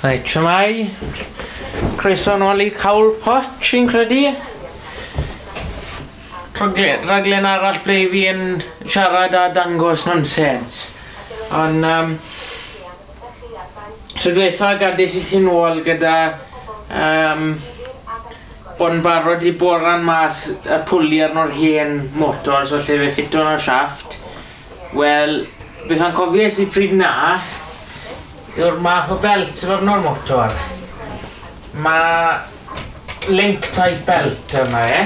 Reit, siamai. Croeso yn ôl i Cawl Poch, fi'n credu. Rhaglen, rhaglen arall ble i fi yn siarad a dangos nonsens. Ond, um, so dweitha gadis i chi'n ôl gyda um, bod yn barod i boran mas y pwli arno'r hen motor so lle fe ffito yn y siafft Wel, beth o'n cofies i pryd 'na yw'r math o belt sydd arno'r motor. Mae link type belt arno e.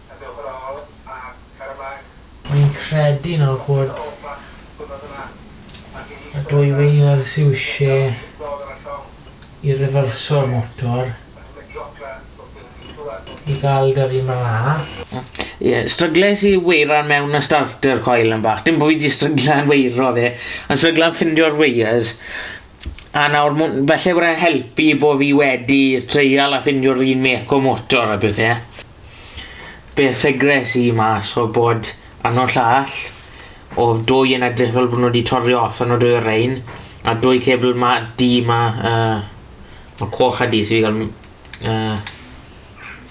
y gofrol a'r carfach. Mae'n credu nawr bod y dwyweiniwr sydd eisiau i rifyrso'r motor i gael dyfu mor dda. Ie, strygles i weiran mewn y starter coil yn bach. Dim bod fi 'di stryglan weiro fe, ond stryglan ffindio'r wires. A nawr, mwn- falle bod e'n helpu bod fi wedi treial a ffindio'r un mec o motor a pethe. Be ffigres i mas odd bod yno llall odd dwy yn edrych fel bo nw di torri off yno dwy o rein a dwy cebl ma du ma uh, ma coch a du so fi ga'l uh,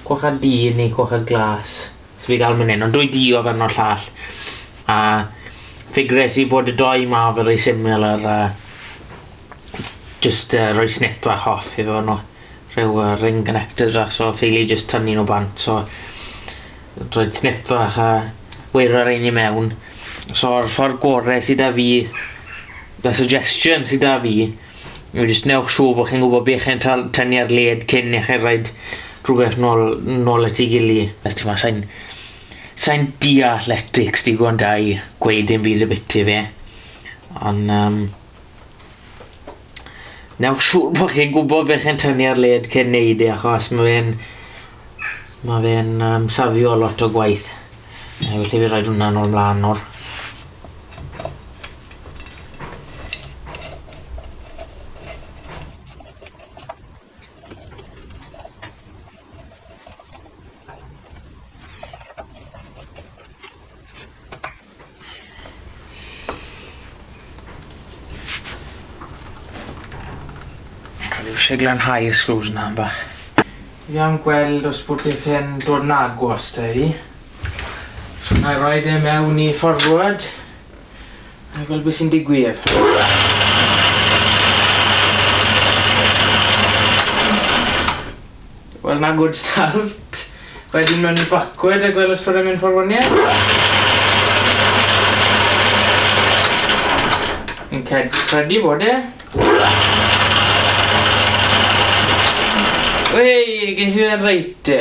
coch a du neu coch a glas so fi ga'l myn hyn ond dwy du odd yno llall a ffigres i bod y doi ma fel rei similar a just uh, roi snip fach off i fe nhw. rhyw uh, ring connectors a so ffili just tynnu nhw bant so rhaid snip fach a weirio'r ein i mewn so'r ffordd gore sydd da fi da suggestion sydd da fi yw just newch siw bod chi'n gwybod beth chi'n tynnu ar led cyn i chi rhaid rhywbeth nôl, nôl at ei gili os ti'n ma sa'n sa'n di athletics digon da i gweud dim byd y biti fe ond um, Newch siŵr bod chi'n gwybod beth chi'n tynnu ar led cyn neud e, achos mae fe'n... Mae fe'n um, safio lot o gwaith. E, felly fi rhaid hwnna nôl mlaen nawr. O'n i isie glanhau y sgrews 'na 'mbach. Fi am gweld os bod pethe'n dod yn agos 'da i. So nâi roid e mewn i forward a gwel' be' sy'n digwydd. Wel 'na good start. Wedyn mewn i backward a gwel os bod e'n mynd ffor wan ie? Fi'n cred- credu bod e. Wey! Ges i fe reit te.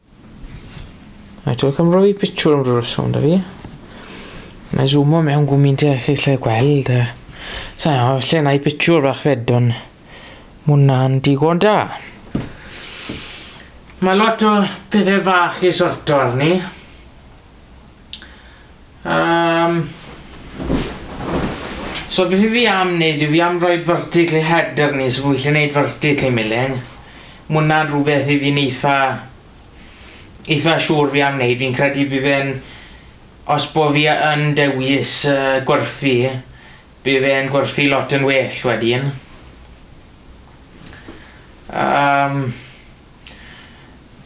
Mae ti'n cael rhoi picture am rhywbeth sôn da fi. Mae zoom o mewn gwmynt eich eich lle gweld. Sa'n iawn, lle na i picture fach fedwn. Mwna'n digon da. Mae lot o pethau bach i sorto arni. Um, so beth i fi am wneud yw fi am roi vertical i header ni, so fi eisiau gwneud vertical i milling. Mae hwnna'n rhywbeth i fi'n eitha, eitha siŵr fi am wneud, fi'n credu bydd fe'n, os bo fi yn dewis uh, gwerthu, bydd fe'n gwerthu lot yn well wedyn. Um,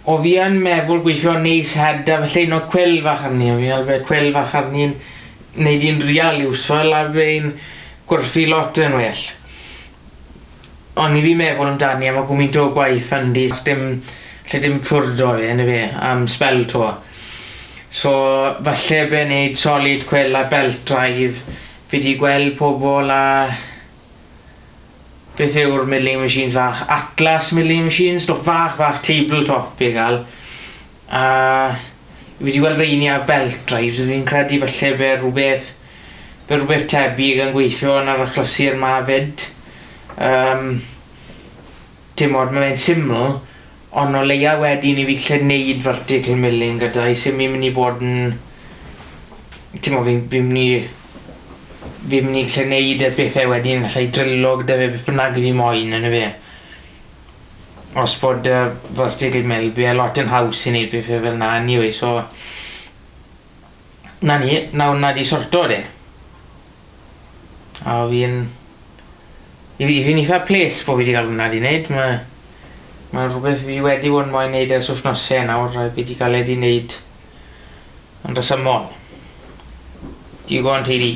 O fi yn meddwl gweithio neis heda felly no cwel fach arni o fi al fe cwel fach arni'n neud i'n real iwsol a fe'n gwerthu lot yn well. O'n i fi meddwl amdani am y gwmint o gwaith yn di dim lle dim ffwrdd o fe yn y fe am spel to. So falle fe neud solid cwel a belt drive fi di gweld pobol a Beth yw'r milling machines fach? Atlas milling machines, stwff fach fach table top i gael. A fi wedi gweld reini ar belt drives, fi'n credu falle fe rhywbeth fe rhywbeth tebyg yn gweithio yn yr achlysur 'ma 'fyd. Yym. Dim ond ma' fe'n syml Ond o leia wedyn i fi gallu neud vertical milling gyda hi sim myn i bod yn t'mo fi'n fi'n myn i fi'n myn i gallu neud y pethe wedyn gallai drillo gyda fe beth bynnag i fi moyn on' yfe? Os bod yy vertical mill by' e lot yn haws i neud pethe fel 'na anyway so 'na ni, nawr 'na 'di sorto e. A fi'n... I fi fi'n eitha ples bo fi wedi cael hwnna 'di neud, mae mae'n rhywbeth fi wedi bod yn moyn neud ers wythnose nawr a fi wedi cael e 'di neud yn resymol. Digon tedi.